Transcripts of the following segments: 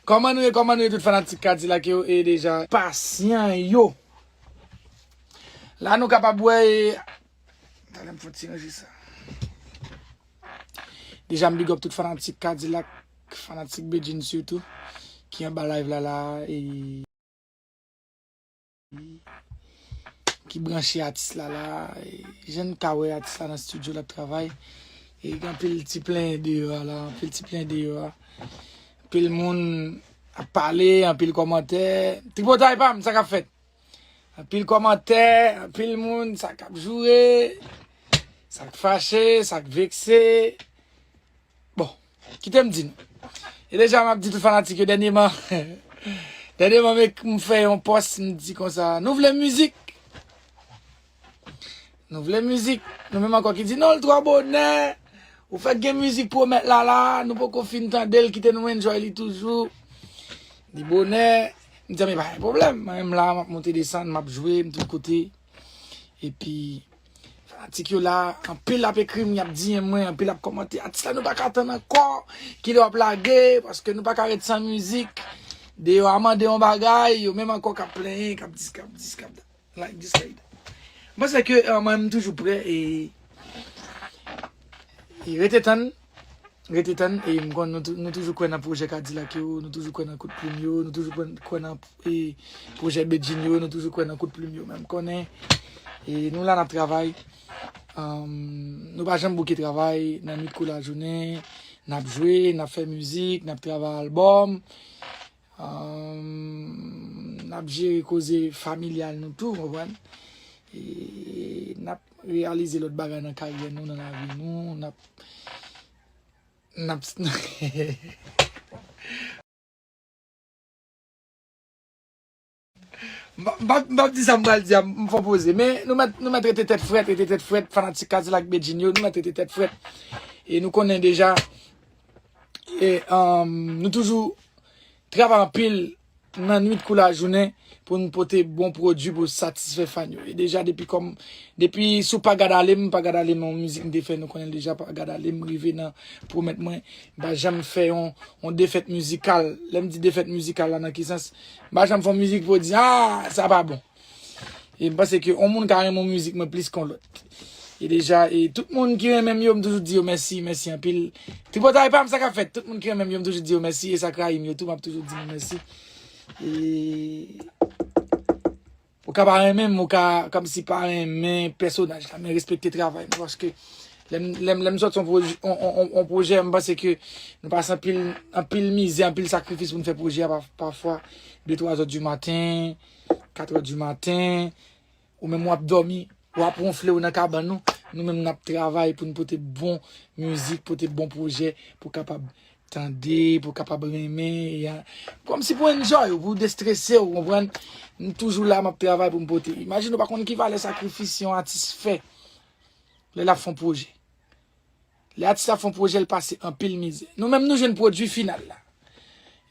Kòman nou ye kòman nou ye tout fanatik kadilak yo e deja pasyan yo la nou kapab wè e talè m fon ti ranje sa deja m big up tout fanatik kadilak fanatik bedjine sitou ki anba live la la e. Ki branche atis la la. Jen ka we atis la nan studio la travay. E gen pil ti plen deyo a la. Pil ti plen deyo a. Pil moun a pale. An pil komante. Tripotay pa m sa ka fet. An pil komante. An pil moun sa ka joure. Sa k fache. Sa k vekse. Bon. Kite m di nou. E deja m ap di tout fanatik yo dènyeman. Dènyeman m fè yon pòs m di konsa. Nou vle mizik? Nou vle mizik? Nou menm ankò ki di non l twò bonè. Ou fèk gen mizik pou w met la la. Nou poko fin tande l kite nou enjoy li toujou. Li bonè. M di men pa gen pwoblèm. Mwen menm la m ap monte desann m ap jwe m tout kote. E pi. Fanatik yo la, anpil ap ekri m, y ap DM mwen, anpil ap kòmante. Atis la nou pa ka tann ankò, ki lè w ap lage, paske nou pa ka ret san mizik. Deyò a mande yon bagay, yo menm ankò k ap plenyen, k ap dis, k ap dis, k ap dat. Like dis, like dat. Mwen panse ke mwen menm m toujou prè e rete tann. Rete tann e m konn nou toujou kwè nan pwojè kadilak yo, nou toujou kwè nan kout plim yo, nou toujou kwè nan pwojè bedjine yo, nou toujou kwè nan kout plim yo men m konnen e nou la nap travay nou pa janm bouke travay nan nwit kou lajounen nap jwe, nap fè mizik, nap travay albòm. N ap jere koze familyal nou tou, konprann? E n ap reyalize lòt bagay nan karyè nou, nan lavi nou, n ap, n ap hehehe. M pap di sa m pral di a, m fò poze. Men, nou mèt rete tèt frèt, rete tèt frèt, fanatik Kadilak Bedjine yo, nou mèt rete tèt frèt. E nou konnen deja, e nou toujou travay anpil nan nwit kou lajounen pou nou pote bon pwodui pou satisfè fan yo. E deja, depi kòm, depi sou Pa Gad Ale m, Pa Gad Ale m yon mizik m te fè, nou konnen deja Pa Gad Ale m rive nan pwomèt mwen m pa janm fè yon defèt mizikal. Lè m di defèt mizikal la nan ki sans? Mpa janm fon mizik pou di aah sa pa bon. E mpanse ke yon moun ka renmen mizik mwen plis kon lòt. E deja e tout moun ki renmenm yo mtoujou di yo mèsi, mèsi anpil. Tripotay pam sa kap fèt? Tout moun ki renmenm yo mtoujou di yo mèsi e sak rayim yo tou map toujou di nou mèsi. E. Ou ka pa renmenm, ou ka kòmsi pa renmen pèsonaj la, men respekte travay mwen paske lèm sòt yon pwojè mwen panse ke nou pase anpil mizè, anpil sakrifis pou nou fè pwojè a pafwa de 3 zò di maten, 4 zò di maten, ou menm wap dòmi, wap wonfle ou nan kabann nou, nou menm nap travay pou nou pote bon mizik, pote bon pwojè pou kapab Tande pou kapab renmen ya. Kom si pou enjoy ou, pou destrese ou, konprann? M toujou la map travay pou m pote. Imagine ou pa konn ki valè sakrifis yon atis fè lè lap fon pwojè. Lè atis la fon pwojè l pase anpil mizè. Nou menm nou jwenn pwodui final la.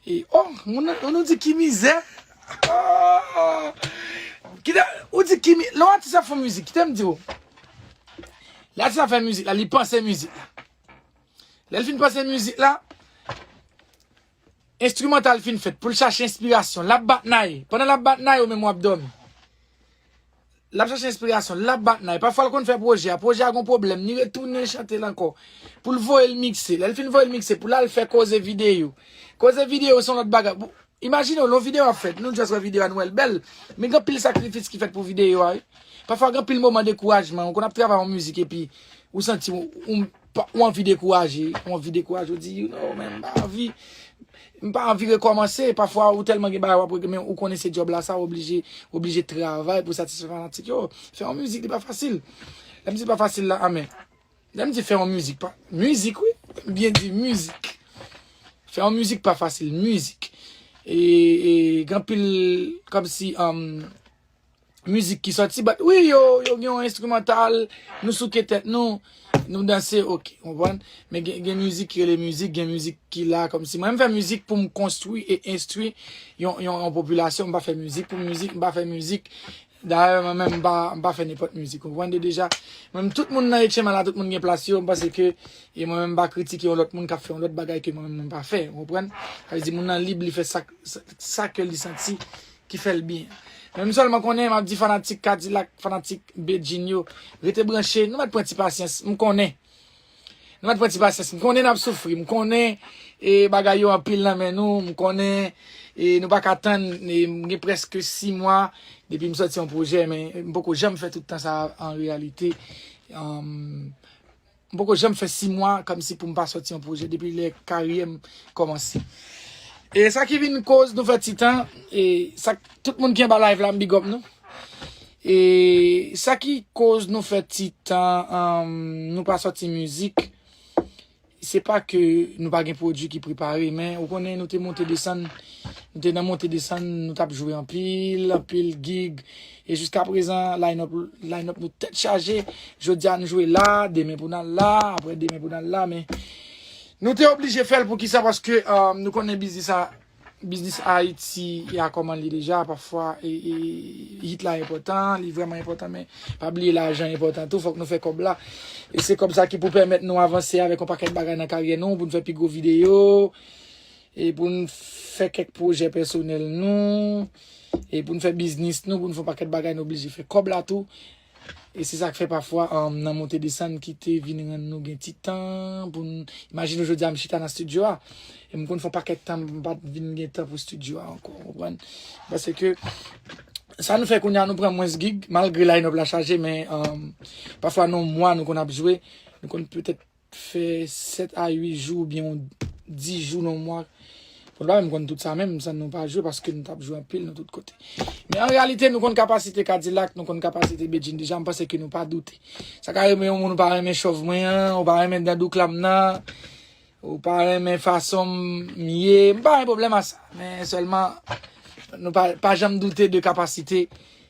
E oh, moun nan, ou nou di ki mizè? Oh! Kite, ou di ki mi, lè yon atis ap fon mizik, kite m di ou. Lè atis la fè mizik la, li panse mizik la. Lè l fin pase mizik la, enstrimantal fin fèt pou l chache enspirasyon. L ap bat nay. Pandan l ap bat nay ou menm w ap dòmi. L ap chache enspirasyon. L ap bat nay. Pafwa l konn fè pwojè a. Pwojè a gon pwoblèm. Li retounen chante l ankò. Pou l voye l mikse. Lè l fin voye l mikse pou l al fè koze videyo. Koze videyo se yon lòt bagay. Imajine w yon videyo ap fèt, nou just wè videyo a nou wè l bèl, men gen anpil sakrifis ki fèt pou videyo a wi. Pafwa gen anpil moman dekourajman, ou konn ap travay yon mizik epi ou santi ou anvi dekouraje, ou anvi dekouraje, ou di you know men m pa anvi, m pa anvi rekòmanse, pafwa ou tèlman gen bagay wap regle men ou konnen se djòb la sa ou oblije, ou oblije travay pou satisfè fanatik yo. Fè yon mizik li pa fasil. Lè m di l pa fasil la a men. Lè m di fè yon mizik pa. Mizik wi. M byen di mizik. Fè yon mizik pa fasil. Mizik. E gen pil kòm si mizik ki sòti bat. Wi yo gen yon enstrimantal. Nou souke tèt nou. Nou danse ok. Konprann? Men gen mizik ki rele mizik. Gen mizik ki la kòm si. Mwen m fè mizik pou m konstwi e enstwi yon popilasyon. M pa fè mizik pou mizik. M pa fè mizik. Dayè mwen menm m pa fè nenpòt mizik ou konprann de deja. Mwen menm tout moun nan HM la tout moun gen plas yo, m panse ke e mwen menm m pa kritike yon lòt moun kap fè yon lòt bagay ke mwen menm mwen pa fè ou konprann. Sa vle di moun nan lib li fè sak sa ke li santi ki fèl byen. Men m sèlman konnen map di fanatik kadilak, fanatik bedjine yo rete branche nou mèt pran ti pasyans m konnen. Nou pat pran ti pasyans. M konnen nap soufri. M konnen e bagay yo anpil nan men nou. M konnen e nou pa ka tann. M gen preske 6 mwa depi m soti yon pwojè men m poko janm fè tout tan sa an reyalite. M poko janm fè 6 mwa kom si pou m pa soti yon pwojè depi lè karyè m komanse. E sa ki vin koz nou fè ti tan e sak Tout moun ki anba live la m big up nou. E sa ki koz nou fè ti tan um, nou pa soti mizik. Se pa ke nou pa gen pwodwi ki prepare men ou konnen nou te monte desann. Nou te nan monte desann, nou tap jwe anpil, anpil gig. E jiska prezan line up, line up nou tèt chaje. Jodi a nou jwe la, demen pou nan la, apre demen pou nan la men. Nou te oblije fèl pou kisa paske um, nou konnen biznis a Biznis Ayiti ya kòman li deja pafwa hit la enpòtan li vrèman enpòtan men pa bliye lajan enpòtan tou fòk nou fè kòb la e se kòb sa ki pou pèmèt nou avanse avèk yon pakèt bagay nan karyè nou pou nou fè pi gwo videyo e pou nou fè kèk pwojè pèsonèl nou e pou nou fè biznis nou pou nou fè yon pakèt bagay nou oblije fè kòb la tou. E se sa k fè pafwa nan monte desann ki te vin rann nou gen ti tan pou n. Imajine w jodi a m chita nan stidyo a, e m konn fè yon pakèt tan m pa t vin gen tan pou stidyo a ankò, ou konprann. Paske, sa nou fè kounye a nou pran mwens gig, malgre line up la chaje men pafwa nan yon mwa nou konn ap jwe, nou konn petèt fè 7 a 8 jou oubyen yon 10 jou nan yon mwa. Mwen pa menm konn tout sa menm, san nou pa jwe paske nou tap jwe anpil nan tout kote. Men an reyalite nou konn kapasite Kadilak, nou konn kapasite Bedjine deja, m panse ke nou pa doute. Sa ka renmen yon moun ou pa renmen chòv mwen an, ou pa renmen dan douklam nan, ou pa renmen fason m ye, m pa gen pwoblèm a sa. Men sèlman nou pa janm doute de kapasite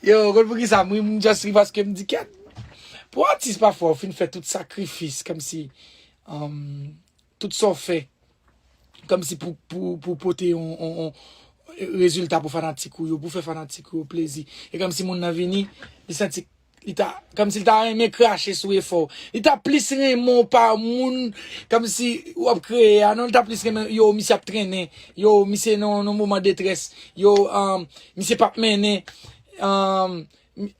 Yo, ou konn poukisa m ri, m just ri paske m di kèt. Pou atis pafwa ou fin fè tout sakrifis kòmsi tout sa w fè kòmsi pou pote yon rezilta pou fanatik ou yo, pou fè fanatik ou yo plezi. E kòmsi moun nan vini, li santi Li ta, kòm si li ta renmen krache sou efò w. Li ta plis renmen w pa moun, kòm si w ap kreye a. Non, li ta plis renmen, yo, misye ap trennen. Yo, misye nan yon moman detrès. Yo, um, misye pap mennen. Um,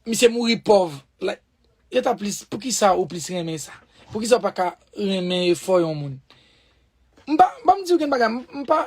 misye mouri pòv. Like, yo ta plis, poukisa ou plis renmen sa? Poukisa ou pa ka renmen efò yon moun? M pa, m pa m di ou gen bagay, m pa.